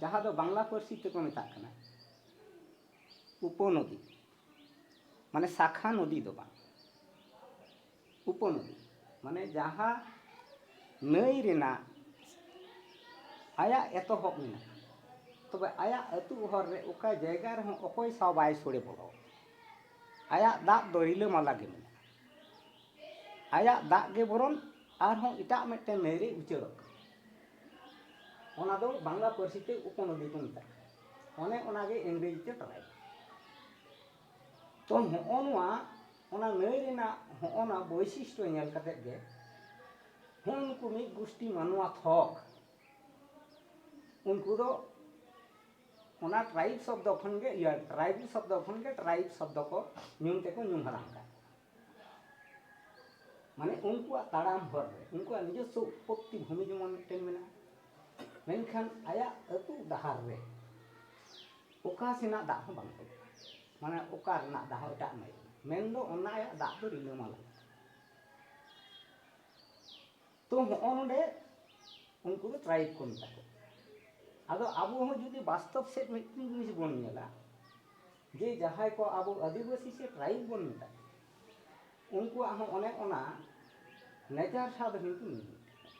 ᱡᱟᱦᱟᱸ ᱫᱚ ᱵᱟᱝᱞᱟ ᱯᱟᱹᱨᱥᱤ ᱛᱮᱠᱚ ᱢᱮᱛᱟᱜ ᱠᱟᱱᱟ ᱩᱯᱚᱱᱚᱫᱤ ᱢᱟᱱᱮ ᱥᱟᱠᱷᱟ ᱱᱚᱫᱤ ᱫᱚ ᱵᱟᱝ ᱩᱯᱚᱱᱚᱫᱤ ᱢᱟᱱᱮ ᱡᱟᱦᱟᱸ ᱱᱟᱹᱭ ᱨᱮᱱᱟᱜ ᱟᱭᱟᱜ ᱮᱛᱚᱦᱚᱵ ᱢᱮᱱᱟᱜᱼᱟ ᱛᱚᱵᱮ ᱟᱭᱟᱜ ᱟᱹᱛᱩ ᱦᱚᱨ ᱨᱮ ᱚᱠᱟ ᱡᱟᱭᱜᱟ ᱨᱮᱦᱚᱸ ᱚᱠᱚᱭ ᱥᱟᱶ ᱵᱟᱭ ᱥᱚᱲᱮ ᱵᱚᱞᱚ ᱟᱭᱟᱜ ᱫᱟᱜ ᱫᱚ ᱨᱤᱞᱟᱹᱢᱟᱞᱟ ᱜᱮ ᱢᱮᱱᱟᱜᱼᱟ ᱟᱭᱟᱜ ᱫᱟᱜ ᱜᱮ ᱵᱚᱨᱚᱱ ᱟᱨᱦᱚᱸ ᱮᱴᱟᱜ ᱢᱤᱫᱴᱮᱱ ᱱᱟᱹᱭ ᱨᱮ ᱩᱪᱟᱹᱲᱚᱜ ᱠᱟᱱᱟ ᱚᱱᱟ ᱫᱚ ᱵᱟᱝᱞᱟ ᱯᱟᱹᱨᱥᱤ ᱛᱮ ᱩᱯᱚᱱᱚᱫᱤ ᱠᱚ ᱢᱮᱛᱟᱜ ᱠᱟᱱᱟ ᱚᱱᱮ ᱚᱱᱟᱜᱮ ᱤᱝᱨᱮᱡᱤ ᱛᱮ ᱛᱟᱞᱟᱭ ᱛᱚ ᱦᱚᱸᱜᱼᱚ ᱱᱚᱣᱟ ᱚᱱᱟ ᱱᱟᱹᱭ ᱨᱮᱱᱟᱜ ᱦᱚᱸᱜᱼᱚ ᱱᱟ ᱵᱳᱭᱥᱤᱥᱴᱚ ᱧᱮᱞ ᱠᱟᱛᱮ ᱜᱮ ᱦᱚᱸ ᱱᱩᱠᱩ ᱢᱤᱫ ᱜᱩᱥᱴᱤ ᱢᱟᱱᱣᱟ ᱛᱷᱚᱠ ᱩᱱᱠᱩ ᱫᱚ ᱚᱱᱟ ᱴᱨᱟᱭᱤᱵᱽ ᱥᱚᱵᱽᱫᱚ ᱠᱷᱚᱱ ᱜᱮ ᱤᱭᱟᱹ ᱴᱨᱟᱭᱤᱵᱽ ᱥᱚᱵᱽᱫᱚ ᱠᱷᱚᱱ ᱜᱮ ᱴᱨᱟᱭᱤᱵᱽ ᱥᱚᱵᱽᱫᱚ ᱠᱚ ᱧᱩᱢ ᱛᱮᱠᱚ ᱧᱩᱢ ᱦᱟᱞᱟᱝ ᱠᱟᱜ ᱢᱟᱱᱮ ᱩᱱᱠᱩᱣᱟᱜ ᱛᱟᱲᱟᱢ ᱦᱚᱨ ᱨᱮ ᱩᱱᱠᱩᱣᱟᱜ ᱱᱤᱡᱚᱥᱥᱚ ᱩᱛᱯᱚᱛᱛᱤ ᱵᱷᱩᱢᱤ ᱡᱮᱢᱚᱱ ᱢᱤᱫᱴᱮᱱ ᱢᱮᱱᱟᱜᱼᱟ ᱢᱮᱱᱠᱷᱟᱱ ᱟᱭᱟᱜ ᱟᱹᱛᱩ ᱰᱟᱦᱟᱨ ᱨᱮ ᱚᱠᱟ ᱥᱮᱱᱟᱜ ᱫᱟᱜ ᱦᱚᱸ ᱵᱟᱝ ᱛᱚᱞᱚᱜᱼᱟ ᱢᱟᱱᱮ ᱚᱠᱟ ᱨᱮᱱᱟᱜ ᱫᱟᱜ ᱦᱚᱸ ᱮᱴᱟᱜ ᱢᱟᱹᱭ ᱢᱮᱱᱫᱚ ᱚᱱᱟ ᱟᱭᱟᱜ ᱫᱟᱜ ᱫᱚ ᱨᱤᱞᱟᱹᱢᱟᱞᱟ ᱛᱚ ᱦᱚᱸᱜᱼᱚ ᱱᱚᱰᱮ ᱩᱱᱠᱩ ᱫᱚ ᱴᱨᱟᱭᱤᱵᱽ ᱠᱚ ᱢᱮᱛᱟ ᱠᱚ ᱟᱫᱚ ᱟᱵᱚ ᱦᱚᱸ ᱡᱩᱫᱤ ᱵᱟᱥᱛᱚᱵ ᱥᱮᱫ ᱢᱤᱫᱴᱮᱱ ᱡᱤᱱᱤᱥ ᱵᱚᱱ ᱧᱮᱞᱟ ᱡᱮ ᱡᱟᱦᱟᱸᱭ ᱠᱚ ᱟᱵᱚ ᱟᱹᱫᱤᱵᱟᱹᱥᱤ ᱥᱮ ᱴᱨᱟᱭᱤᱵᱽ ᱵᱚᱱ ᱢᱮᱛᱟ ᱠᱚᱣᱟ ᱩᱱᱠᱩᱣᱟᱜ ᱦᱚᱸ ᱚᱱᱮ ᱚᱱᱟ ᱱᱮᱪᱟᱨ ᱥᱟᱶ ᱫᱚ ᱠᱤᱱᱛᱩ ᱢᱤᱫ ᱜᱮᱛᱟ ᱠᱚᱣᱟ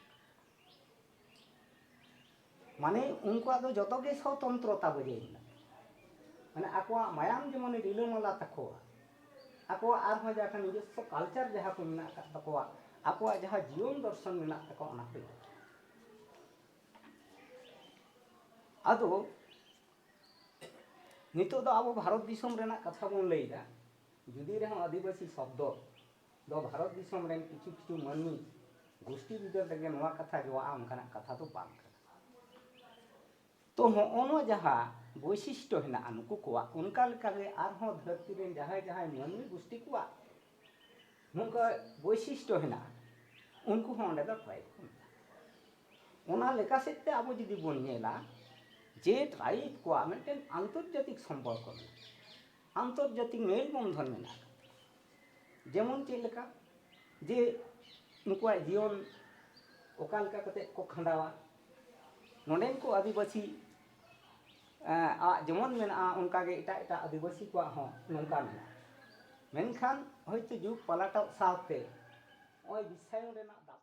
ᱢᱟᱱᱮ ᱩᱱᱠᱩᱣᱟᱜ ᱫᱚ ᱡᱚᱛᱚ ᱜᱮ ᱥᱚᱛᱚᱱᱛᱨᱚᱛᱟ ᱵᱚᱡᱟᱭ ᱢᱮᱱᱟᱜ ᱛᱟᱠᱚᱣᱟ ᱢᱟᱱᱮ ᱟᱠᱚᱣᱟᱜ ᱢᱟᱭᱟᱢ ᱡᱮᱢᱚᱱ ᱨᱤᱞᱟᱹᱢᱟᱞᱟ ᱛᱟᱠᱚᱣᱟ ᱟᱠᱚᱣᱟᱜ ᱟᱨᱦᱚᱸ ᱡᱟᱦᱟᱸ ᱱᱤᱡᱚᱥᱥᱚ ᱠᱟᱞᱪᱟᱨ ᱡᱟᱦᱟᱸ ᱠᱚ ᱢᱮᱱᱟᱜ ᱟᱠᱟᱫ ᱛᱟᱠᱚᱣᱟ ᱟᱠᱚᱣᱟᱜ ᱡᱟᱦᱟᱸ ᱡᱤᱭᱚᱱ ᱫᱚᱨᱥᱚᱱ ᱢᱮᱱᱟᱜ ᱛᱟᱠᱚᱣᱟ ᱚᱱᱟ ᱠᱚ ᱤᱫᱤ ᱠᱟᱛᱮ ᱟᱫᱚ ᱱᱤᱛᱚᱜ ᱫᱚ ᱟᱵᱚ ᱵᱷᱟᱨᱚᱛ ᱫᱤᱥᱚᱢ ᱨᱮᱱᱟᱜ ᱠᱟᱛᱷᱟ ᱵᱚᱱ ᱞᱟᱹᱭᱫᱟ ᱡᱩᱫᱤ ᱨᱮᱦᱚᱸ ᱟᱹᱫᱤᱵᱟᱹᱥᱤ ᱥᱚᱵᱫᱚ ᱫᱚ ᱵᱷᱟᱨᱚᱛ ᱫᱤᱥᱚᱢ ᱨᱮᱱ ᱠᱤᱪᱷᱩ ᱠᱤᱪᱷᱩ ᱢᱟᱹᱱᱢᱤ ᱜᱩᱥᱴᱤ ᱵᱤᱫᱟᱹᱞ ᱨᱮᱜᱮ ᱱᱚᱣᱟ ᱠᱟᱛᱷᱟ ᱡᱚᱣᱟᱜᱼᱟ ᱚᱱᱠᱟᱱᱟᱜ ᱠᱟᱛᱷᱟ ᱫᱚ ᱵᱟᱝ ᱠᱟᱱᱟ ᱛᱚ ᱦᱚᱸᱜᱼᱚ ᱱᱚᱣᱟ ᱡᱟᱦᱟᱸ ᱵᱳᱭᱥᱤᱥᱴᱚ ᱦᱮᱱᱟᱜᱼᱟ ᱱᱩᱠᱩ ᱠᱚᱣᱟᱜ ᱚᱱᱠᱟ ᱞᱮᱠᱟᱜᱮ ᱟᱨᱦᱚᱸ ᱫᱷᱟᱹᱨᱛᱤ ᱨᱮᱱ ᱡᱟᱦᱟᱸᱭ ᱡᱟᱦᱟᱸᱭ ᱢᱟᱹᱱᱢᱤ ᱜᱩᱥᱴᱤ ᱠᱚᱣᱟᱜ ᱱᱚᱝᱠᱟ ᱵᱳᱭᱥᱤᱥᱴᱚ ᱦᱮᱱᱟᱜᱼᱟ ᱩᱱᱠᱩ ᱦᱚᱸ ᱚᱸᱰᱮ ᱫᱚ ᱴᱨᱟᱭᱤᱵᱽ ᱠᱚ ᱢᱮᱛᱟᱜᱼᱟ ᱚᱱᱟ ᱞᱮᱠᱟ ᱥᱮᱫ ᱛᱮ ᱟᱵᱚ ᱡᱩᱫᱤ ᱵᱚᱱ ᱧᱮᱞᱟ ᱡᱮ ᱴᱨᱟᱭᱤᱵᱽ ᱠᱚᱣᱟᱜ ᱢᱤᱫᱴᱮᱱ ᱟᱱᱛᱚᱨᱡᱟᱛᱤᱠ ᱥᱚᱢᱯᱚᱨᱠᱚ ᱢᱮᱱᱟᱜᱼᱟ ᱟᱱᱛᱚᱨᱡᱟᱛᱤᱠ ᱢᱮᱞ ᱵᱚᱱᱫᱷᱚᱱ ᱢᱮᱱᱟᱜᱼᱟ ᱡᱮᱢᱚᱱ ᱪᱮᱫ ᱞᱮᱠᱟ ᱡᱮ ᱱᱩᱠᱩᱣᱟᱜ ᱡᱤᱭᱚᱱ ᱚᱠᱟ ᱞᱮᱠᱟ ᱠᱟᱛᱮᱫ ᱠᱚ ᱠᱷᱟᱸᱰᱟᱣᱟ ᱱᱚᱰᱮᱱ ᱠᱚ ᱟᱹᱫᱤᱵᱟᱹᱥᱤ ᱟᱜ ᱡᱮᱢᱚᱱ ᱢᱮᱱᱟᱜᱼᱟ ᱚᱱᱠᱟ ᱜᱮ ᱮᱴᱟᱜ ᱮᱴᱟᱜ ᱟᱹᱫᱤᱵᱟᱹᱥᱤ ᱠᱚᱣᱟᱜ ᱦᱚᱸ ᱱᱚᱝᱠᱟ ᱢᱮᱱᱟᱜᱼᱟ ᱢᱮᱱᱠᱷᱟᱱ ᱦᱚᱭᱛᱳ ᱡᱩᱜᱽ ᱯᱟᱞᱴᱟᱣ ᱥᱟᱶᱛᱮ ᱱᱚᱜᱼᱚᱭ ᱵᱤᱥᱥᱟᱭᱚᱱ ᱨᱮᱱᱟᱜ ᱫᱟᱯᱚᱴ